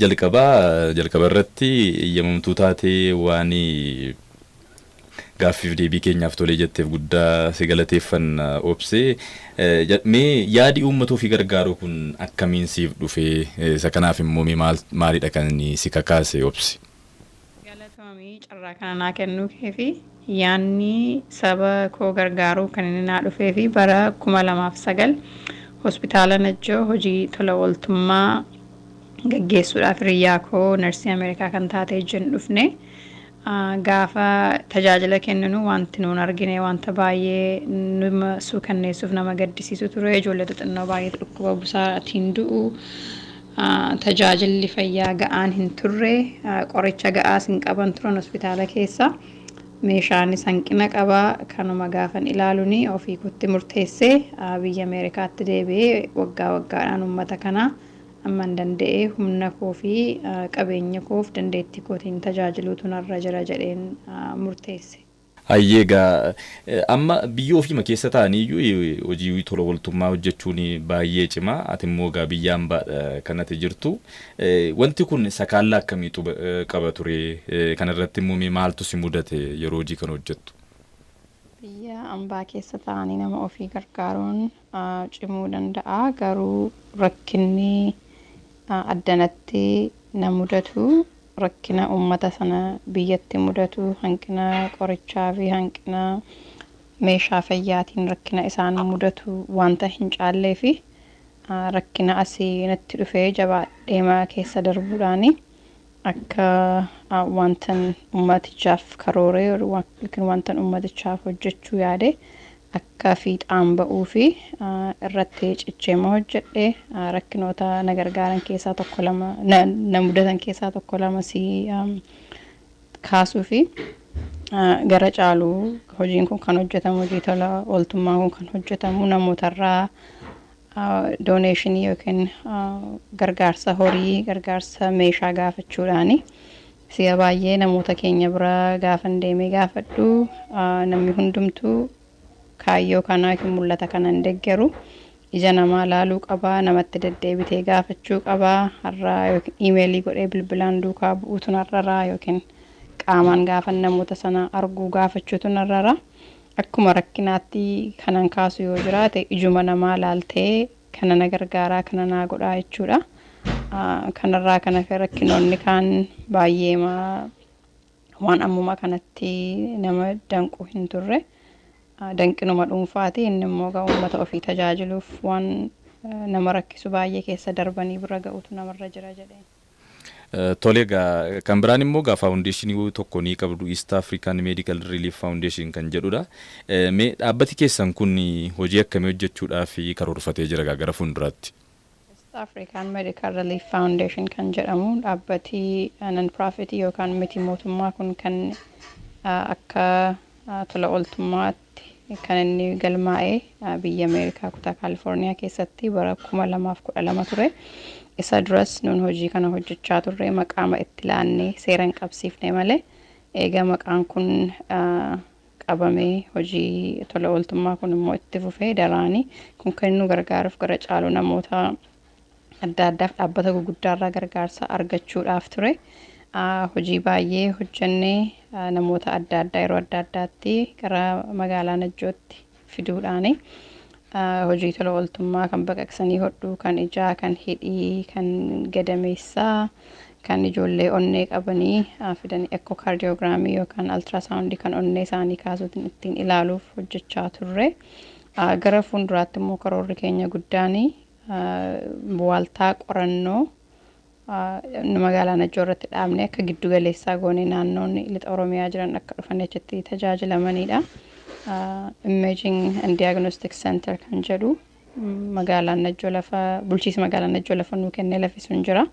Jalqaba jalqaba irratti eeyyamamtuu taatee waan gaaffiif deebii keenyaaf tolee jetteef guddaa si galateeffanna Obse. Mee yaadi uummata ofii gargaaruu kun akkamiin siif dhufe? Isa kanaaf immoo mee maalidha kan si kakaase Obse? Galatoomi carraa kana naa kennuu kee fi yaanni saba koo gargaaruu kan inni naa dhufee fi bara 2009 hospitaala Najjoo hojii tola ooltummaa gaggeessuudhaaf hiriyyaa koo narsii Ameerikaa kan taate ijjin dhufne gaafa tajaajila kenninu wanti nuun argine wanta baay'ee nama suukanneessuuf nama gaddisiisu ture ijoollee xixinnoo baay'eetu dhukkuba busaatiin du'u Tajaajilli fayyaa ga'aan hin turre, qoricha ga'aas hin qaban turan hospitaala keessa. Meeshaanis hanqina qaba. Kanuma gaafan ilaalun ofii kootti murteesse. Biyya Ameerikaatti deebi'ee waggaa waggaadhaan uummata kana amman danda'e humna koo fi qabeenya koof dandeettii kootiin tajaajiluutu narra jira jedheen murteesse. Hayyee egaa amma biyya ofiima keessa taa'anii iyyuu hojii tola ooltummaa hojjechuun baay'ee cima. Ati immoo egaa biyya hambaadha kan ati jirtu. Wanti kun sakaallaa akkamii qaba ture? Kana irratti immoo mee maaltu si mudate yeroo hojii kana hojjettu? Biyya hambaa keessa taa'anii nama ofii gargaaruun cimuu danda'a. Garuu rakkinni addanatti na mudatu rakkina ummata sana biyyatti mudatu hanqina qorichaa fi hanqina meeshaa fayyaatiin rakkina isaan mudatu wanta hin caalleefi rakkina asii natti dhufee jabaadheema keessa darbuudhaani Akka wantan ummatichaaf karooree yookiin wantan ummatichaaf hojjechuu yaade akka fiixaan ba'uu fi irratti cichee ma hojjedhe rakkinoota na gargaaran keessaa tokko lama na mudatan keessaa tokko lama si kaasuu fi gara caalu hojiin kun kan hojjetamu hojii tola ooltummaan kun kan hojjetamu namootarraa dooneeshinii yookiin gargaarsa horii, gargaarsa meeshaa gaafachuudhaani. Si'a baay'ee namoota keenya bira gaafan deemee gaafadhu namni hundumtuu kaayyoo kanaa yookiin mul'ata kana hin deggeru. Ija namaa laaluu qaba, namatti deddeebitee gaafachuu qaba, har'a yookiin iimeelii godhee bilbilaan duukaa bu'uutu narrara yookiin qaamaan gaafan namoota sana arguu gaafachuutu narrara. Akkuma rakkinaatti kanan kaasu yoo jiraate ijuma namaa laaltee kana na gargaaraa kana naa godhaa jechuudha. Kanarraa kan hafe rakkinoonni kaan baay'eema waan ammuma kanatti nama danqu hin turre. Danqinuma dhuunfaati inni immoo egaa uummata ofii tajaajiluuf waan nama rakkisu baay'ee keessa darbanii bira ga'utu namarra jira jedheen. Tole egaa kan biraan immoo egaa faawundeeshinii tokko ni qabdu East African Medical Relief Foundation kan jedhudha. Mee dhaabbati keessan kun hojii akkamii hojjechuudhaaf karoorfatee jira egaa gara fuulduraatti? East African Medical Relief Foundation kan jedhamu dhaabbati non-profit yookaan miti mootummaa kun kan akka tola ooltummaa Ameerikaatti kan inni galmaa'e biyya Ameerikaa kutaa Kaalifoorniyaa keessatti bara 2012 ture. Isa duras nun hojii kana hojjechaa turre maqaama itti laannee seera hin qabsiifne malee eega maqaan kun qabamee hojii tola ooltummaa kun immoo itti fufee daraanii kun kan nu gargaaruuf gara caalu namoota adda addaaf dhaabbata guguddaarraa gargaarsa argachuudhaaf ture hojii baay'ee hojjenne namoota adda addaa yeroo adda addaatti gara magaalaa Najjootti fiduudhaani. hojii tola ooltummaa kan baqaqsanii hodhuu kan ijaa kan hidhii kan gadameessaa kan ijoollee onnee qabanii fidanii ekkokaardiyoogiraamii yookaan altiraasaawundii kan onnee isaanii kaasuutiin ittiin ilaaluuf hojjechaa turre. Gara fuulduraatti immoo karoorri keenya guddaan waaltaa qorannoo magaalaa Najjoo irratti dhaabnee akka giddu galeessaa goonee naannoonni lixa Oromiyaa jiran akka dhufanii achitti tajaajilamanidha. Imaging and Diagnostic Center kan jedhu magaalaan Najjoo lafa bulchiisa magaalaa Najjoo lafa nuu kennee lafi sun jira.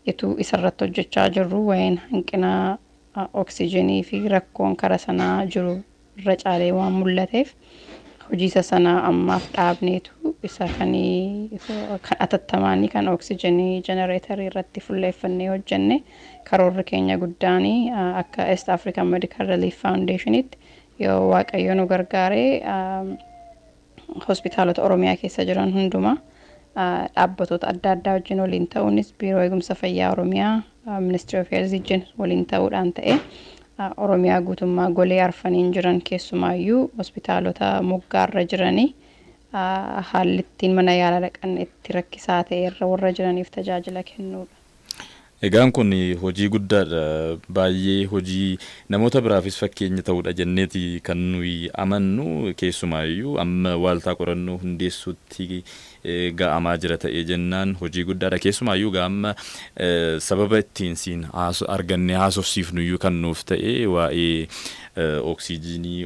Ituu isarratti hojjechaa jirru waa'een hanqina oksijiinii fi rakkoon kara sanaa jiru irra caalee waan mul'ateef hojii isa sana ammaaf dhaabneetu isa kan atattamaanii kan oksijenii jenereetarii irratti fulleeffannee hojjenne karoorri keenya guddaan akka East African Medical Relief Foundationitti yoo waaqayyo nu gargaaree hospitaalota Oromiyaa keessa jiran hundumaa dhaabbatoota adda addaa wajjin waliin ta'uunis Biiroo Eegumsa Fayyaa Oromiyaa Ministirii of Heelzii wajjin waliin ta'uudhaan ta'ee Oromiyaa guutummaa golee arfaniin jiran keessumaayyuu hospitaalota moggaarra jiranii haalli ittiin mana yaalaa dhaqan itti rakkisaa ta'e irra warra jiraniif tajaajila kennuudha. Egaan kun hojii guddaadha. Baay'ee hojii namoota biraafis fakkeenya ta'udha jenneeti kan nuyi amannu. Keessumaayyuu amma waaltaa qorannoo hundeessuutti ga'amaa jira ta'ee jennaan hojii guddaadha. Keessumaayyuu egaa amma sababa ittiin siin argannee haasofsiifnuyyuu kan nuuf ta'e waa'ee Oksijiinii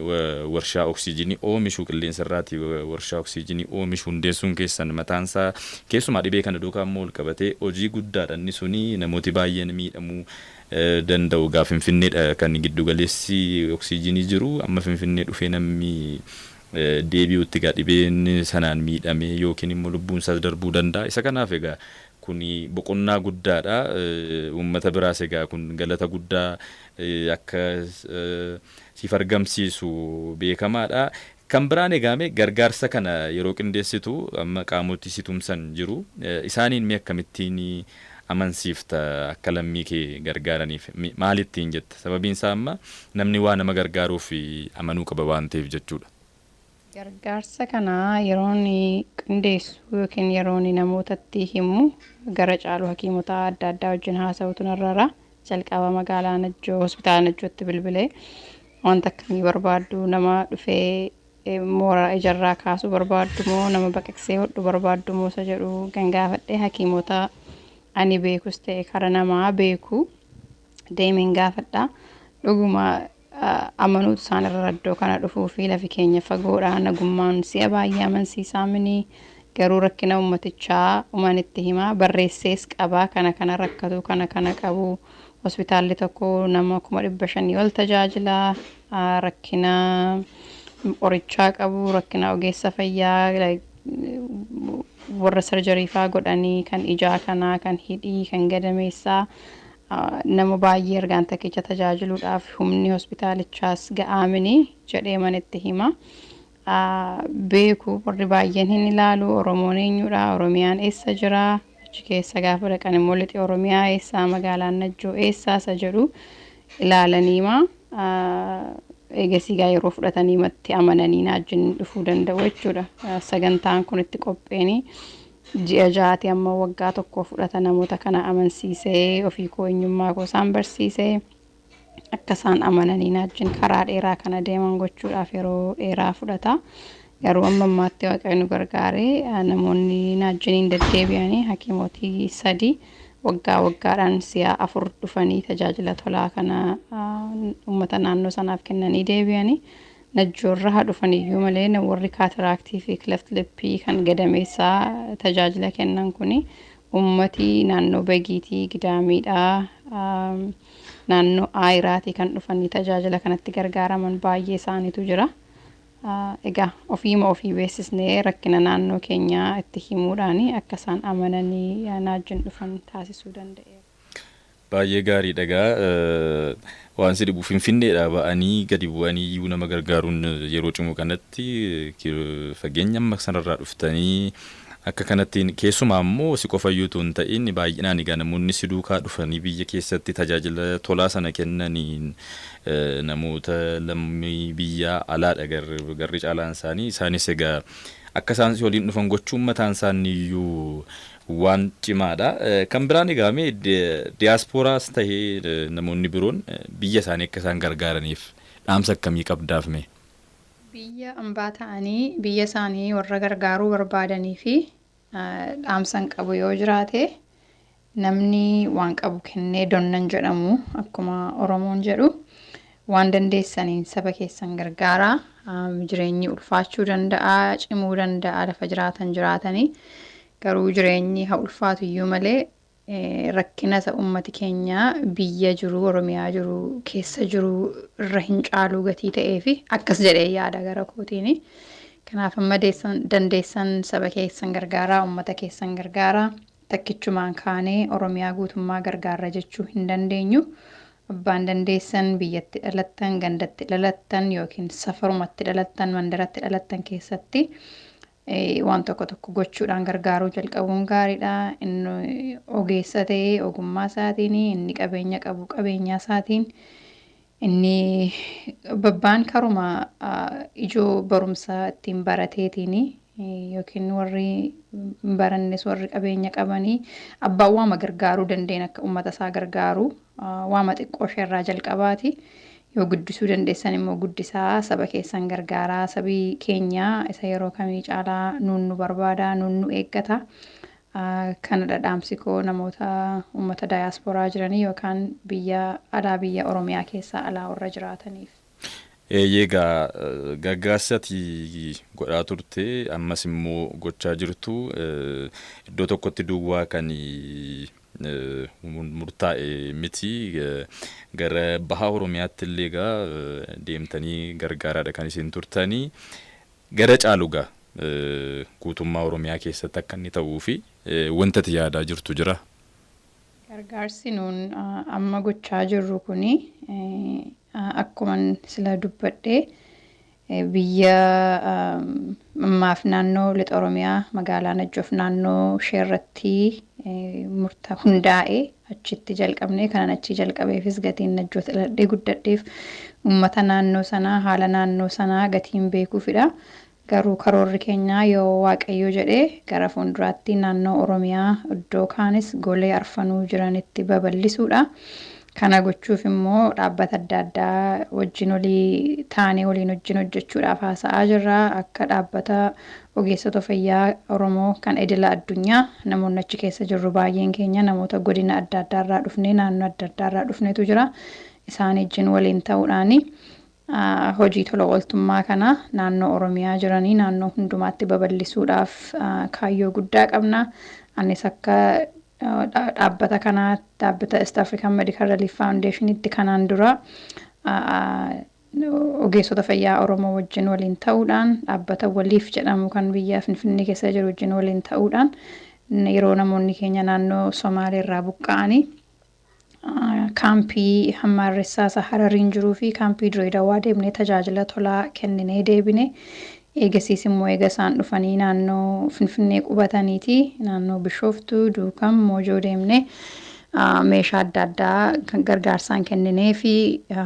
warshaa oksijiinii oomishu qilleensa irraati warshaa oksijiinii oomishu hundeessuun keessan mataan isaa keessumaa dhibee kana duukaa immoo wal qabatee hojii guddaadha inni suni namooti baay'een miidhamuu danda'u egaa finfinneedha kan giddu galeessi oksijiinii jiru amma finfinnee dhufee nammi deebi'utti egaa dhibeen sanaan miidhamee yookiin immoo lubbuun isaas darbuu danda'a isa kanaaf egaa kuni boqonnaa guddaadha uummata biraas egaa kun galata guddaa akka siif argamsiisu beekamaadha. Kan biraan egaa mee gargaarsa kana yeroo qindeessitu amma qaamoti si tumsan jiru. Isaaniin mee akkamittiin amansiifta akka lammii kee gargaaraniif? Maal ittiin jetta? Sababiin isaa amma namni waa nama gargaaruuf amanuu qaba waan ta'eef jechuudha. Gargaarsa kana yeroon qindeessu ykn yeroon namootatti himu gara caalu hakiimota adda addaa wajjin haasa'utu narra jira. Jalqaba magaalaa Najjoo hospitaala Najjootti bilbilee wanta akkamii barbaaddu nama dhufee eh, moora ijarraa kaasuu barbaaddu moo nama baqaqsee hodhu barbaaddu moo isa jedhu gangaafadhee hakiimota ani beekus ta'e kara namaa beeku deemeen gaafadha. Dhuguma amanuutu isaan irra raddoo kana dhufuu fi lafi keenya fagoodha nagummaan si'a baay'ee amansiisaa mini garuu rakkina ummatichaa uman itti himaa barreessees qabaa kana kana rakkatuu kana kana qabu hospitaalli tokko nama kuma dhibba shanii ol tajaajila rakkina qorichaa qabu rakkina ogeessa fayyaa warra sarjarii faa godhanii kan ijaa kanaa kan hidhii kan gadameessaa Nama baay'ee ergaan takkicha tajaajiluudhaaf humni hospitaalichaas ga'aa mini jedheeman itti hima. Beeku warri baay'een hin ilaalu Oromoon eenyudha, Oromiyaan eessa jira, achi keessa gaafa dhaqan immoo lixi Oromiyaa eessaa, magaalaan Najjoo eessaa isa jedhu ilaalaniima. Eegasii gaa yeroo fudhataniimatti amananii naajjin dhufuu danda'u jechuudha. Sagantaan kun itti qopheeni. Ji'a ja'aati amma waggaa tokko fudhata namoota kana amansiisee ofii koo eenyummaa koo isaan barsiise akka isaan amananii naajjin karaa dheeraa kana deeman gochuudhaaf yeroo dheeraa fudhata garuu amma ammaatti waaqayyo nu gargaaree namoonni naajjiniin deddeebi'anii hakiimootii sadii waggaa waggaadhaan si'a afur dhufanii tajaajila tolaa kana uummata naannoo sanaaf kennanii deebi'anii Najjoorra haa dhufan iyyuu malee warri kaataraaktii fi kileft lippii kan gadameessaa tajaajila kennan kun uummati naannoo Bagiitii, Gidaamiidhaa, naannoo Aayiraatii kan dhufanii tajaajila kanatti gargaaraman baay'ee isaaniitu jira. Egaa ofiima ofii beeksisnee rakkina naannoo keenyaa itti himuudhaan akka isaan amananii naajjin dhufan taasisuu danda'eera. Baay'ee gaariidha egaa waan si dhibu finfinneedhaa ba'anii gadi bu'anii iyyuu nama gargaaruun yeroo cimu kanatti fageenya amma sanarraa dhuftanii akka kanatti keessumaa immoo si qofa iyyuu utuu hin ta'in baay'inaan egaa namoonni si duukaa dhufanii biyya keessatti tajaajila tolaa sana kennaniin namoota lammii biyyaa alaadha garri caalaan isaanii isaanis egaa akka isaan si waliin dhufan gochuun mataan isaanii iyyuu waan cimaadha. Kan biraan egaa mee diyaaspooraas tahee namoonni biroon biyya isaanii akka isaan gargaaraniif dhaamsa akkamii qabdaaf mee? Biyya ambaa ta'anii biyya isaanii warra gargaaruu barbaadaniif dhaamsan qabu yoo jiraate namni waan qabu kennee donnan jedhamu akkuma Oromoon jedhu Waan dandeessaniin saba keessan gargaaraa. Jireenyi ulfaachuu danda'a, cimuu danda'a lafa jiraatan jiraatanii. Garuu jireenyi haa ulfaatu iyyuu malee rakkina isa uummati keenya biyya jiru, Oromiyaa jiru, keessa jiru irra hin caaluu gatii ta'eefi akkas jedhee yaada gara kootiini. Kanaaf amma dandeessan saba keessan gargaaraa, uummata keessan gargaaraa. Takkichumaan kaanee Oromiyaa guutummaa gargaarra jechuu hin dandeenyu. Abbaan dandeessan, biyya itti dhalattan, ganda itti dhalattan yookiin safaruma itti dhalattan, mandara itti dhalattan keessatti waan tokko tokko gochuudhaan gargaaruu jalqabuun gaariidha. Inni ogeessa ta'e ogummaa isaatiin, inni qabeenya qabu qabeenyaa isaatiin Inni babbaan karuma ijoo barumsaa ittiin barateetiini yookiin warri hin barannes warri qabeenya qabanii abbaan waama gargaaruu danda'een akka ummata isaa gargaaru waama xiqqoo ishee irraa jalqabaati yoo guddisuu dandeessan immoo guddisaa saba keessan gargaaraa sabii keenya isa yeroo kamii caalaa nuun nu barbaada nuun nu eeggata Kanadha dhaamsi koo namoota ummata diaspora jiranii yookaan biyya alaa biyya Oromiyaa keessaa alaa warra jiraataniif. Eeyyee egaa gargaarsi ati godhaa turte ammas immoo gochaa jirtu iddoo tokkotti duwwaa kan murtaa'e miti. Gara baha Oromiyaatti illee egaa deemtanii gargaaraadha kan isin turtanii. Gara caalu egaa guutummaa Oromiyaa keessatti akka inni ta'uu fi wanti ati yaadaa jirtu jiraa? Gargaarsi nuun amma gochaa jirru kun akkuman sila dubbadhe biyya ammaaf naannoo Lixa Oromiyaa magaalaa Najjoof naannoo ishee irratti murta hundaa'ee achitti jalqabne. Kanan achii jalqabeefis gatiin Najjoo dhaladhee guddadheef ummata naannoo sanaa, haala naannoo sanaa gatiin beekuufidha. Garuu karoorri keenya yoo Waaqayyo jedhe gara fuulduraatti naannoo Oromiyaa iddoo kaanis golee arfanuu jiranitti babal'isuudha. Kana gochuuf immoo dhaabbata adda addaa wajjin olii taanee waliin wajjin hojjechuudhaaf haasa'aa jirra. Akka dhaabbata Ogeessota fayyaa Oromoo kan idila addunyaa, namoonni achi keessa jirru baay'een keenya namoota godina adda addaa irraa dhufnee, naannoo adda addaa irraa dhufnetu jira. Isaan ijjin waliin ta'uudhaan hojii tola ooltummaa kana naannoo Oromiyaa jiranii naannoo hundumaatti babal'isuudhaaf kaayyoo guddaa qabna. Anis akka dhaabbata kanaa dhaabbata East African Medical Relief Foundation itti kanaan dura Ogeessota fayyaa Oromoo wajjin waliin ta'uudhaan dhaabbata Waliif jedhamu kan biyya Finfinnee keessa jiru wajjin waliin ta'uudhaan yeroo namoonni keenya naannoo Somaalee irraa buqqa'anii kaampii Hammaarressaa isa Harariin jiruu fi kaampii Diree Dawaa deemnee tajaajila tolaa kenninee deebine. Eegasiis immoo eega isaan dhufanii naannoo Finfinnee qubataniiti naannoo Bishooftuu, Duukam, Moojoo deemnee meeshaa adda addaa gargaarsaan kennineefi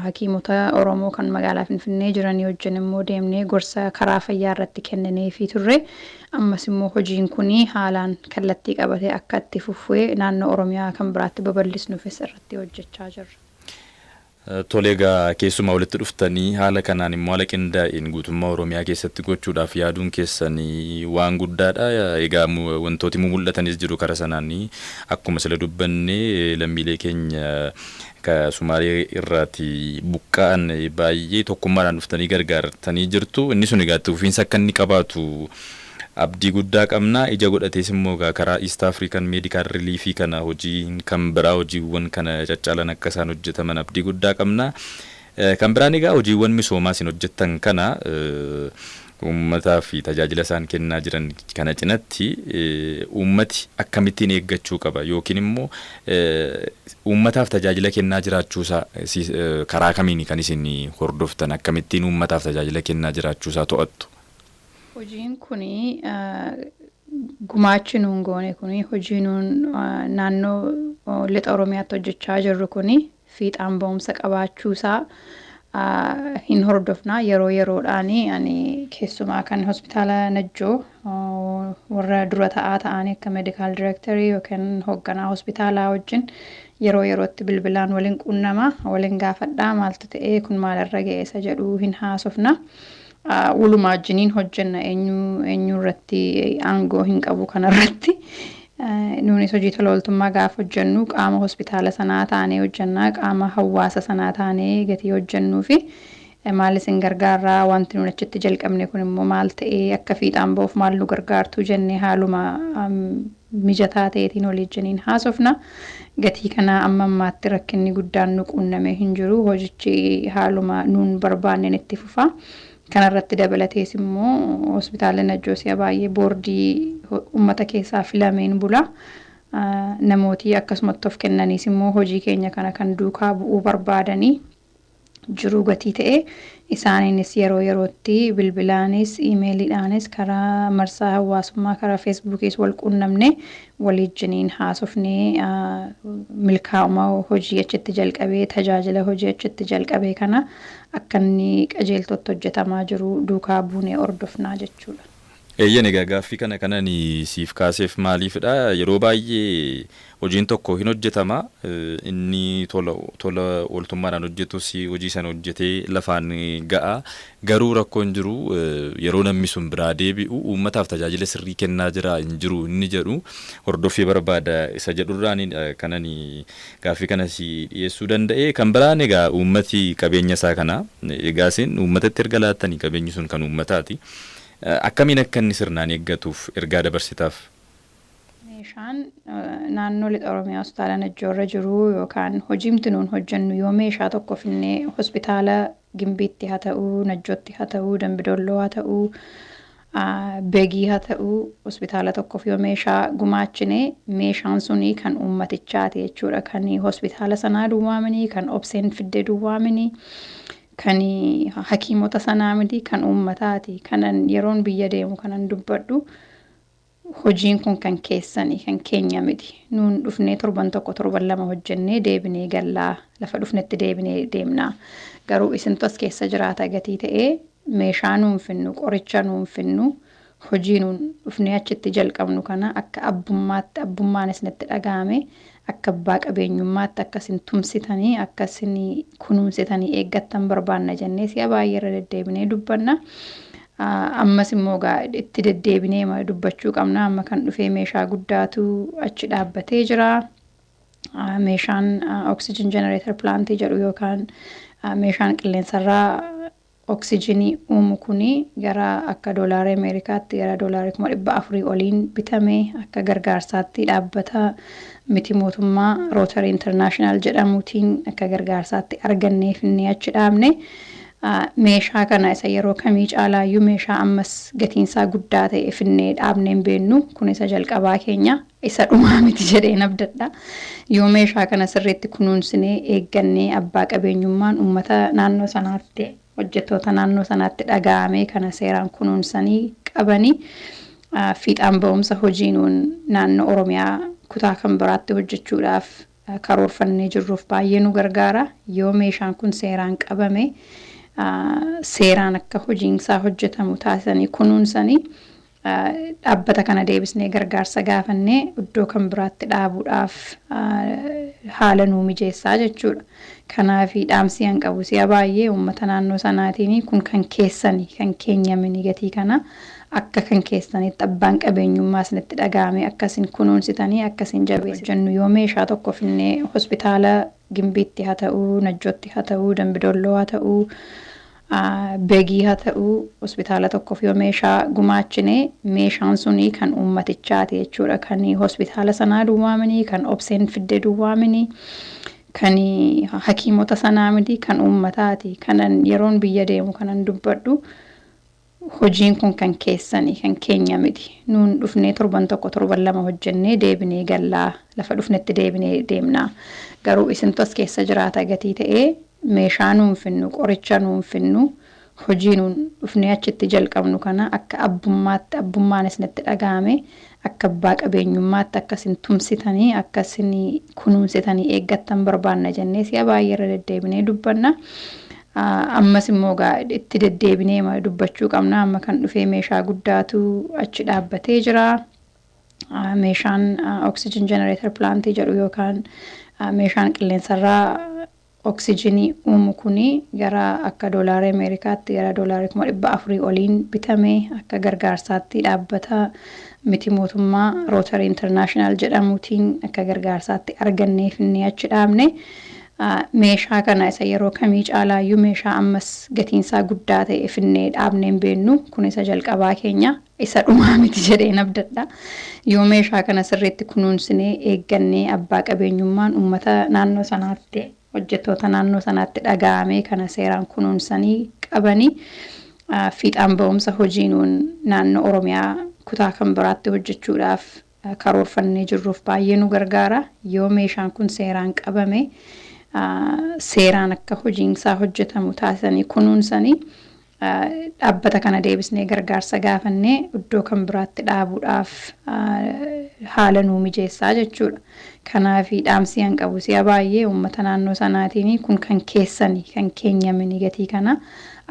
hakiimota Oromoo kan magaalaa Finfinnee jiranii wajjin immoo deemnee gorsa karaa fayyaa irratti kennineefii turre. Ammas immoo hojiin kun haalaan kallattii qabatee akka itti fufue naannoo Oromiyaa kan biraatti babal'isnufis irratti hojjechaa jirra. Tole egaa keessumaa walitti dhuftanii haala kanaan immoo haala qindaa'een guutummaa Oromiyaa keessatti gochuudhaaf yaaduun keessan waan guddaadha. Egaa wantooti mumul'atanis jiru kara sanaan akkuma sila dubbanne lammiilee keenya ka Sumaalee irraati buqqa'an baay'ee tokkummaadhaan dhuftanii gargaartanii jirtu. Inni sun egaa itti fufiinsa akka inni qabaatu Abdii guddaa qabna. Ija godhatees immoo egaa karaa East African Medical Relief kana hojiin kan biraa hojiiwwan kana caccaalan akka isaan hojjetaman abdii guddaa qabna. Kan biraan egaa hojiiwwan misoomaa isin hojjettan kana uummataaf tajaajila isaan kennaa jiran kana cinatti uummati akkamittiin eeggachuu qaba yookiin immoo uummataaf tajaajila kennaa jiraachuu isaa karaa kamiini kan isin hordoftan akkamittiin uummataaf tajaajila kennaa jiraachuu isaa to'attu? Hojiin kun gumaachi nuun goone kun hojii nuun naannoo lixa Oromiyaatti hojjechaa jirru kun fiixaan ba'umsa qabaachuu isaa hin hordofna yeroo yeroodhaan ani keessumaa kan hospitaala Najjoo warra dura ta'aa ta'anii akka meedikaal direektarii yookiin hoogganaa hospitaalaa wajjin yeroo yerootti bilbilaan waliin quunnama waliin gaafadhaa maaltu ta'ee kun maalirra ga'eessa jedhuu hin haasofna. Wolumaa wajjiniin hojjenna eenyu eenyu irratti aangoo hin qabu kana irratti. Nuunis hojii tola ooltummaa gaafa hojjennu qaama hospitaala sanaa taanee hojjenna qaama hawwaasa sanaa taanee gatii hojjennuu fi maal isin gargaarraa wanti nuun achitti jalqabne kun immoo maal ta'ee akka fiixaan ba'uuf maal nu gargaartuu jennee haaluma mijataa ta'eetiin waliijjiniin haasofna. Gatii kanaa amma ammaatti rakkinni guddaan nu quunnamee hin jiru. Hojichi haaluma nuun barbaanneen itti fufa. Kana irratti dabalatees immoo Hospitaalli Najjoo si'a baay'ee boordii ummata keessaa filameen bula. Namootii akkasumatti of kennaniis immoo hojii keenya kana kan duukaa bu'uu barbaadanii jiruu gatii ta'e isaaniinis yeroo yerootti bilbilaanis iimeeliidhaanis karaa marsaa hawaasummaa karaa feesbuukiis wal quunnamne waliijjiniin haasofnee milkaa'uma hojii achitti jalqabee tajaajila hojii achitti jalqabee kana akka inni qajeeltootti hojjetamaa jiru duukaa buunee hordofnaa jechuudha. Eeyyen egaa gaaffii kana kan ani siif kaaseef maaliifidha yeroo baay'ee hojiin tokko hin hojjetama inni tola tola ooltummaadhaan hojjetus hojii sana hojjetee lafaan ga'a garuu rakkoon jiru yeroo namni sun biraa deebi'u uummataaf tajaajila sirrii kennaa jiraa hin jiru inni jedhu hordoffii barbaada isa jedhurraanidha kan ani gaaffii kana si dhiyeessuu danda'e kan biraan egaa uummati qabeenya isaa kana egaa isin uummatatti erga laattanii qabeenyi sun kan uummataati Akkamiin akka inni sirnaan eeggatuuf ergaa dabarsitaaf? Meeshaan naannoo Lixa Oromiyaa Hospitaala Najjoo irra jiru yookaan hojiimti nuun hojjennu yoo meeshaa tokko finnee hospitaala Gimbiitti ha ta'u, Najjootti ha ta'u, Dambi Dolloo ha ta'u, Begii ha ta'u hospitaala tokkoof yoo meeshaa gumaachine meeshaan suni kan uummatichaati jechuudha. Kan hospitaala sanaa duwwaa mini, kan Obseen fidde duwwaa mini. Kan hakiimota sanaa miti, kan uummataati. Kanan yeroon biyya deemu kanan dubbadhu hojiin kun kan keessani, kan keenya miti. Nuun dhufnee torban tokko, torban lama hojjennee deebinee galla. Lafa dhufnetti deebinee deemna. Garuu isintu as keessa jiraata gatii ta'ee meeshaa nuun finnu, qoricha nuun finnu, Hojii nuun dhufnee achitti jalqabnu kana akka abbummaatti, abbummaan isinitti dhaga'amee, akka abbaa qabeenyummaatti akka isin tumsitanii, akka isin kunuunsitanii eeggattan barbaanna jennee si'a baay'ee irra deddeebinee dubbanna. Ammas immoo egaa itti deddeebinee ma- dubbachuu qabna. Amma kan dhufee meeshaa guddaatu achi dhaabbatee jira. Ah, Meeshaan oxygen generator plant jedhu yookaan ah, meeshaan qilleensarraa Oksijinii uumu kun gara akka doolaari Ameerikaatti gara doolaari kuma 400 oliin bitame, akka gargaarsaatti dhaabbata miti mootummaa Rotary International jedhamuutiin akka gargaarsaatti argannee finnee achi dhaabne. Meeshaa kana isa yeroo kamii caalaayyuu meeshaa ammas gatiinsaa guddaa ta'e finnee dhaabnee hin beennu. Kun isa jalqabaa keenya. isa dhumaa miti jedheen abdadha. Yoo meeshaa kana sirriitti kunuunsinee, eeggannee, abbaa qabeenyummaan ummata naannoo sanaatti, hojjettoota naannoo sanaatti dhagaa'amee kana seeraan kunuunsanii qabanii fiixaan ba'umsa hojii nuun naannoo Oromiyaa kutaa kan biraatti hojjechuudhaaf karoorfannee jirruuf baay'ee nu gargaara. Yoo meeshaan kun seeraan qabame, seeraan akka hojiinsaa hojjetamu taasisanii kunuunsanii, Dhaabbata kana deebisnee gargaarsa gaafannee iddoo kan biraatti dhaabuudhaaf haala nuu mijeessaa jechuudha. Kanaaf dhaamsii an qabu si'a baay'ee uummata naannoo sanaatiin kun kan keessani kan keenya mini gatii kana akka kan keessanitti abbaan qabeenyummaa isinitti dhaga'amee akka isin kunuunsitanii akka isin jabeessitan yoo meeshaa tokko finnee hospitaala Gimbiitti haa ta'uu, Najjootti haa ta'uu, Dambi Dolloo haa ta'uu, Begii haa ta'uu hospitaala tokkoof yoo meeshaa gumaachine meeshaan sunii kan uummatichaati jechuudha. Kan hospitaala sanaa duwwaa mini, kan obseen fidde duwwaa mini, kan hakiimota sanaa miti, kan uummataati. Kanan yeroon biyya deemu kanan dubbadhu Hojiin kun kan keessani, kan keenya miti. Nuun dhufnee torban tokko, torban lama hojjennee deebinee galla. Lafa dhufnetti deebinee deemna. Garuu isintu as keessa jiraata gatii ta'ee meeshaa nuun finnu, qoricha nuun finnu, hojii nuun dhufnee achitti jalqabnu kana akka abbummaatti, abbummaan isinitti dhaga'amee akka abbaa qabeenyummaatti akka isin tumsitanii, akka isin kunuunsitanii eeggattan barbaanna jennee si'a baay'ee irra deddeebinee dubbanna. Ammas immoo egaa itti deddeebinee dubbachuu qabna. Amma kan dhufee meeshaa guddaatu achi dhaabbatee jira. Meeshaan oxygen generator plantii jedhu yookaan meeshaan qilleensarraa Oksijinii uumu kun gara akka doolaari Ameerikaatti gara doolaari 400,000 oliin bitame, akka gargaarsaatti dhaabbata miti mootummaa Rotary International jedhamuutiin akka gargaarsaatti argannee finnee achi dhaabne. Meeshaa kana isa yeroo kamii caalaayyuu meeshaa ammas gatiinsaa guddaa ta'e finnee dhaabnee hin beennu. Kun isa jalqabaa keenya. isa dhumaa miti jedheen abdadha. Yoo meeshaa kana sirriitti kunuunsinee, eeggannee, abbaa qabeenyummaan ummata naannoo sanaatti, hojjettoota naannoo sanaatti dhagaa'amee kana seeraan kunuunsanii qabanii fiixaan ba'umsa hojii nuun naannoo Oromiyaa kutaa kan biraatti hojjechuudhaaf karoorfannee jirruuf baay'ee nu gargaara. Yoo meeshaan kun seeraan qabame, seeraan akka hojiinsaa hojjetamu taasisanii kunuunsanii Dhaabbata kana deebisnee gargaarsa gaafannee iddoo kan biraatti dhaabuudhaaf haala nuu mijeessaa jechuudha. Kanaaf dhaamsii an qabu si'a baay'ee uummata naannoo sanaatiin kun kan keessani kan keenya mini gatii kana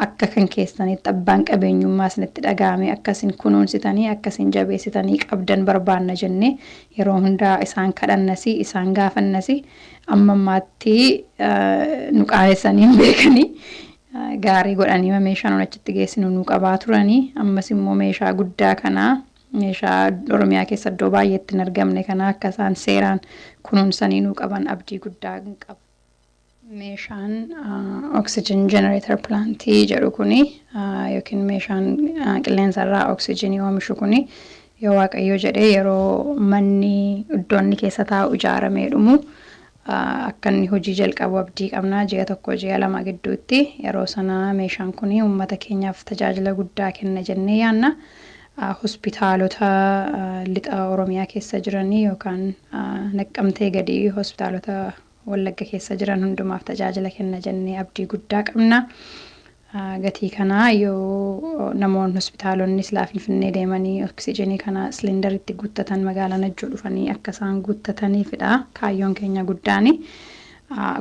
akka kan keessanitti abbaan qabeenyummaa isinitti dhaga'amee akka isin kunuunsitanii akka isin jabeessitanii qabdan barbaanna jennee yeroo hundaa isaan kadhannasi isaan gaafannasi amma ammaatti nu qaanessanii hin beekanii. gaarii godhaniima meeshaa nuun achitti geessinu nuu qabaa turani. Ammas immoo meeshaa guddaa kana meeshaa Oromiyaa keessa iddoo baay'eetti hin argamne kana akka isaan seeraan kunuunsanii nuu qaban abdii guddaa hin qaba. Meeshaan oxygen generator plant jedhu kuni yookiin meeshaan qilleensa irraa oksijiinii oomishu kuni yoo Waaqayyoo jedhee yeroo manni iddoonni keessa taa'u ijaaramee dhumu akka inni hojii jalqabu abdii qabna. Ji'a tokko, ji'a lama gidduutti yeroo sana meeshaan kun uummata keenyaaf tajaajila guddaa kenna jennee yaadna. Hospitaalota lixa Oromiyaa keessa jiran yookaan Naqqamtee gadi hospitaalota Wallagga keessa jiran hundumaaf tajaajila kenna jennee abdii guddaa qabna. gatii kanaa yoo namoon hospitaalonni silaa Finfinnee deemanii oksijiinii kana silinder itti guuttatan magaalaa Najjoo dhufanii akka isaan guuttataniifidha kaayyoon keenya guddaan.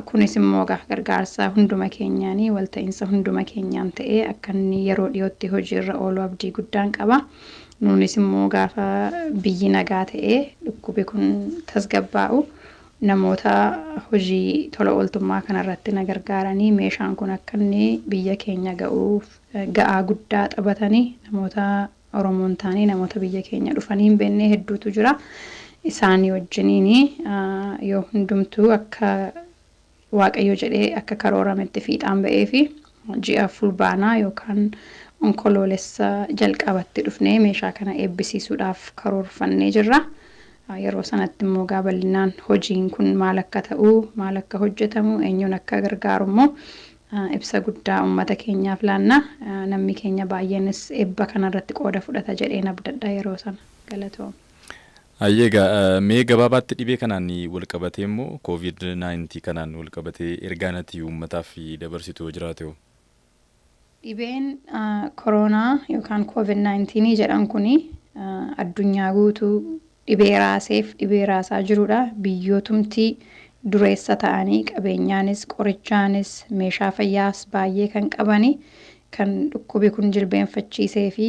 Kunis immoo egaa gargaarsa hunduma keenyaan, walta'iinsa hunduma keenyaan ta'ee akka inni yeroo dhiyootti hojiirra oolu abdii guddaan qaba. Nuunis immoo gaafa biyyi nagaa ta'ee dhukkubi kun tasgabbaa'u Namoota hojii tola ooltummaa kana irratti na gargaaranii meeshaan kun akka inni biyya keenya ga'uuf ga'aa guddaa xabatani namoota Oromoo hin taane namoota biyya keenya dhufanii hin beennee hedduutu jira. Isaanii wajjiniin yoo hundumtuu akka. Waaqayyo jedhe akka karoorrametti fiixaan ba'eefi ji'a Fulbaanaa yookaan Onkoloolessa jalqabatti dhufnee meeshaa kana eebbisiisuudhaaf karoorfannee jirra. Yeroo sanatti immoo egaa bal'inaan hojiin kun maal akka ta'u, maal akka hojjetamu, eenyuun akka gargaaru immoo ibsa guddaa ummata keenyaaf laanna. Nammi keenya baay'eenis eebba kanarratti qooda fudhata jedheen abdadha yeroo sana. Galatoomi. Hayyee egaa mee gabaabaatti dhibee kanaan walqabatee immoo covid 19 kanaan walqabatee ergaan ati uummataaf dabarsitu yoo jiraate hoo? Dhibeen koroonaa yookaan covid 19 jedhan kun addunyaa guutuu dhibee raaseef dhibee raasaa jirudha. Biyyootumti dureessa ta'anii qabeenyaanis, qorichaanis, meeshaa fayyaas baay'ee kan qabani kan dhukkubi kun jilbeenfachiisee fi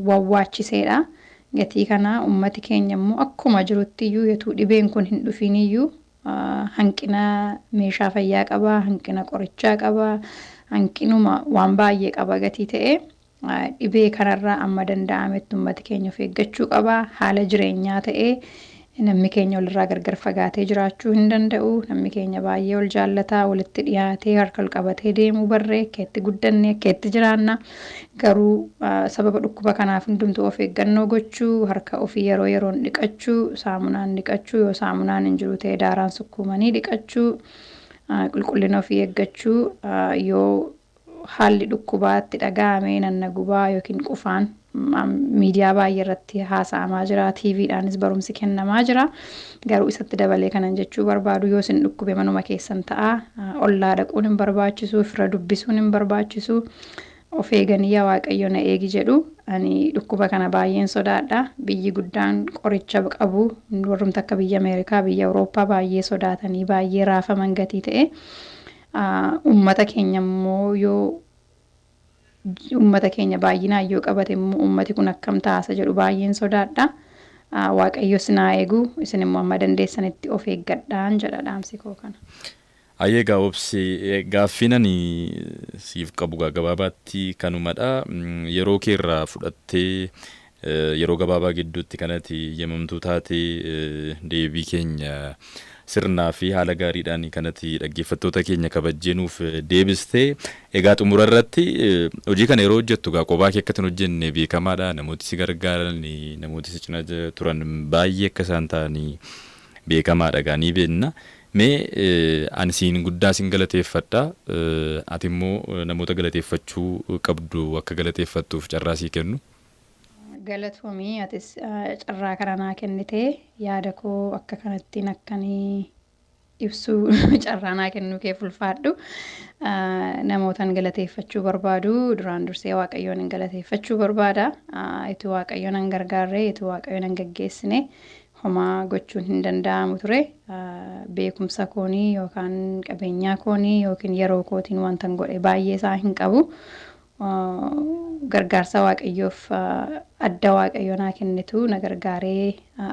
wawwaachiseedha. Gatii kana ummati keenya immoo akkuma jirutti iyyuu yotuu dhibeen kun hin dhufiin iyyuu hanqina meeshaa fayyaa qaba, hanqina qorichaa qaba, hanqinuma waan baay'ee qaba gatii ta'e dhibee kanarraa amma danda'ametti ummati keenya of eeggachuu qaba. Haala jireenyaa ta'ee Namni keenya walirraa gargar fagaatee jiraachuu hin danda'u. Namni keenya baay'ee wal jaallata, walitti dhiyaatee harka wal qabatee deemuu barree akka itti guddanne akka itti jiraanna. Garuu sababa dhukkuba kanaaf hundumtuu of eeggannoo gochuu, harka ofii yeroo yeroon dhiqachuu, saamunaan dhiqachuu, yoo saamunaan hin jiru ta'e daaraan sukkuumanii dhiqachuu, qulqullina ofii eeggachuu, yoo Haalli dhukkubaa itti dhaga'ame nan na gubaa yookiin qufaan miidiyaa baay'ee irratti haasa'amaa jira. TV dhaanis barumsi kennamaa jira. Garuu isatti dabalee kanan jechuu barbaadu yoo isin dhukkube manuma keessan ta'aa. Ollaa dhaquun hin barbaachisu, fira dubbisuun hin barbaachisu. Of eeganii yaa Waaqayyo na eegi jedhu. Ani dhukkuba kana baay'een sodaadha. Biyyi guddaan qoricha qabu warrumti akka biyya Ameerikaa, biyya Awurooppaa baay'ee sodaatanii baay'ee raafaman gatii ta'e. Uummata keenya immoo yoo uummata keenya baay'inaan yoo qabate immoo uummati kun akkam ta'a isa jedhu baay'een sodaadha. Waaqayyo isin haa eegu isin immoo amma dandeessanitti of eeggadhaan jedha dhaamsi koo kana. Ayyee egaa Obse gaaffiin ani siif qabu egaa gabaabaatti kanumadha. Yeroo kee irraa fudhattee Yeroo gabaabaa gidduutti kan ati yamamtuu taate deebii keenya sirnaa fi haala gaariidhaan kan ati dhaggeeffattoota keenya kabajjee nuuf deebiste. Egaa xumura irratti hojii kana yeroo hojjettu egaa qophaa kee akka ati hin hojjenne beekamaadha. Namooti si gargaaran, namooti si cina turan baay'ee akka isaan ta'an beekamaadha egaa ni beekna. Mee ani siin guddaa sin galateeffadha. Ati immoo namoota galateeffachuu qabdu akka galateeffattuuf carraa sii kennu. Galatoomii atis carraa kana naa kennite yaada koo akka kanattiin akkan ibsuu carraa naa kennuu kee fulfaadhu namootan galateeffachuu barbaadu duraan dursee waaqayyoon hin galateeffachuu barbaada itti waaqayyoon hin gargaarree itti waaqayyoon hin gaggeessine homaa gochuun hin danda'amu ture beekumsa koonii yookaan qabeenyaa koonii yookiin yeroo kootiin wantan godhe baay'ee isaa hin qabu gargaarsaa waaqayyoof adda waaqayyo naa kennetu na gargaaree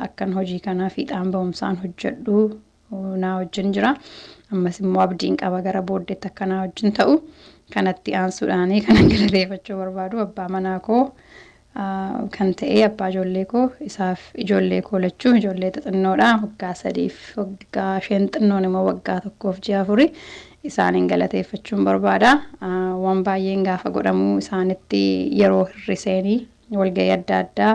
akkan hojii kana fiixaan ba'umsaan hojjedhu naa wajjin jira ammas immoo abdiin qaba gara booddeetti akka naa wajjin ta'u kanatti aansuudhaanii kanan galateeffachuu barbaadu abbaa manaa koo kan ta'ee abbaa ijoollee koo isaaf ijoollee koo lachuu ijoollee xixinnoodha waggaa sadiif waggaa isheen xinnoon immoo waggaa tokkoof ji'a afuri isaaniin galateeffachuun barbaada waan baay'een gaafa godhamuu isaanitti yeroo hirriseenii walga'ii adda addaa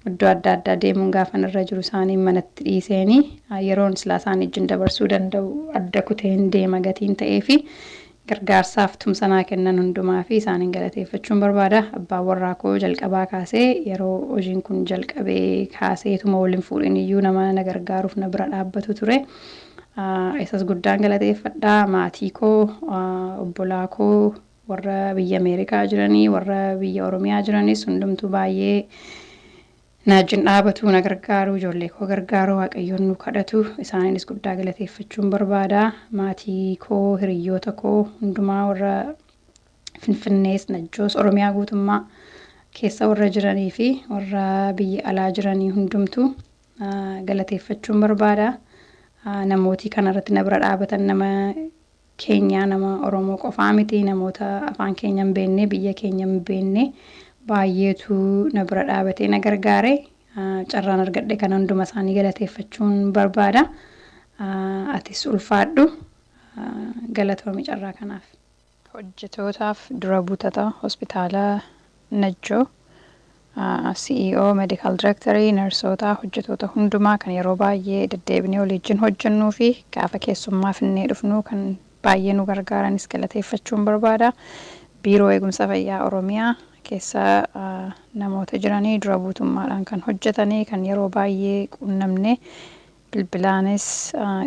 iddoo adda addaa deemuun gaafan irra jiru isaaniin manatti dhiiseenii yeroon silaa isaanii wajjin dabarsuu danda'u adda kuteen deema gatiin ta'ee fi Gargaarsaaf tumsa naa kennan hundumaafi isaanin galateeffachuun barbaada. Abbaan warraa koo jalqabaa kaasee yeroo hojiin kun jalqabe kaasee ituma wal hin fuudhin iyyuu nama na gargaaruuf na bira dhaabbatu ture. Isas guddaan galateeffadha. Maatii koo, obbolaa koo, warra biyya Ameerikaa jiranii, warra biyya Oromiyaa jiranis hundumtuu baay'ee Na wajjin dhaabatuu na gargaaruu ijoollee koo gargaaruu waaqayyoon nuu kadhatu isaaniinis guddaa galateeffachuun barbaada maatii koo hiriyyoota koo hundumaa warra finfinnees najjoos oromiyaa guutummaa keessa warra jiranii fi warra biyya alaa jiranii hundumtu galateeffachuun barbaada namootii kana irratti na bira dhaabatan nama keenyaa nama Oromoo qofaa miti namoota afaan keenya hin beekne, biyya keenya hin beekne baay'eetu na bira dhaabatee na gargaare. Carraan argadhe kana hunduma isaanii galateeffachuun barbaada. Atis ulfaadhu. Galatoomi carraa kanaaf. Hojjetootaaf dura buutata Hospitaala Najjoo. CEO, Medical Director, Narsootaa, hojjetoota hundumaa kan yeroo baay'ee deddeebinee waliijjin hojjennuu fi gaafa keessummaa finnee dhufnuu kan baay'ee nu gargaaranis galateeffachuun barbaada. Biiroo Eegumsa Fayyaa Oromiyaa keessa namoota jiranii dura buutummaadhaan kan hojjetanii kan yeroo baay'ee quunnamnee bilbilaanis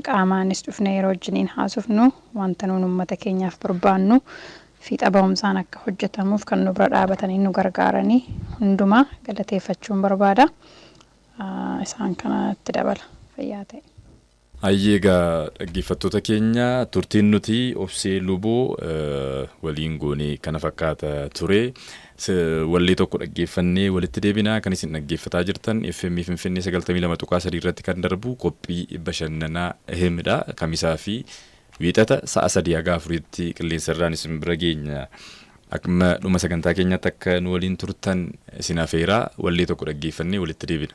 qaamaanis dhufnee yeroo wajjiniin haasofnu wanta nuun ummata keenyaaf barbaannu fiixa bahumsaan akka hojjetamuuf kan nu bira dhaabatanii nu gargaarani hundumaa galateeffachuun barbaada. Isaan kana itti dabala. Fayyaa ta'i. Hayyee egaa dhaggeeffattoota keenya turtiin nuti Obsee Luboo waliin goone kana fakkaata ture. Wallee tokko dhaggeeffannee walitti deebina. Kan isin dhaggeeffataa jirtan FM Finfinnee 92.3 irratti kan darbu qophii bashannanaa Ehim dha. Kamisaa fi Wiixata sa'a 3 haga 4tti qilleensa irraan isin bira geenya. Akkuma dhuma sagantaa keenyaatti akka nu waliin turtan isin afeeraa wallee tokko dhaggeeffannee walitti deebina.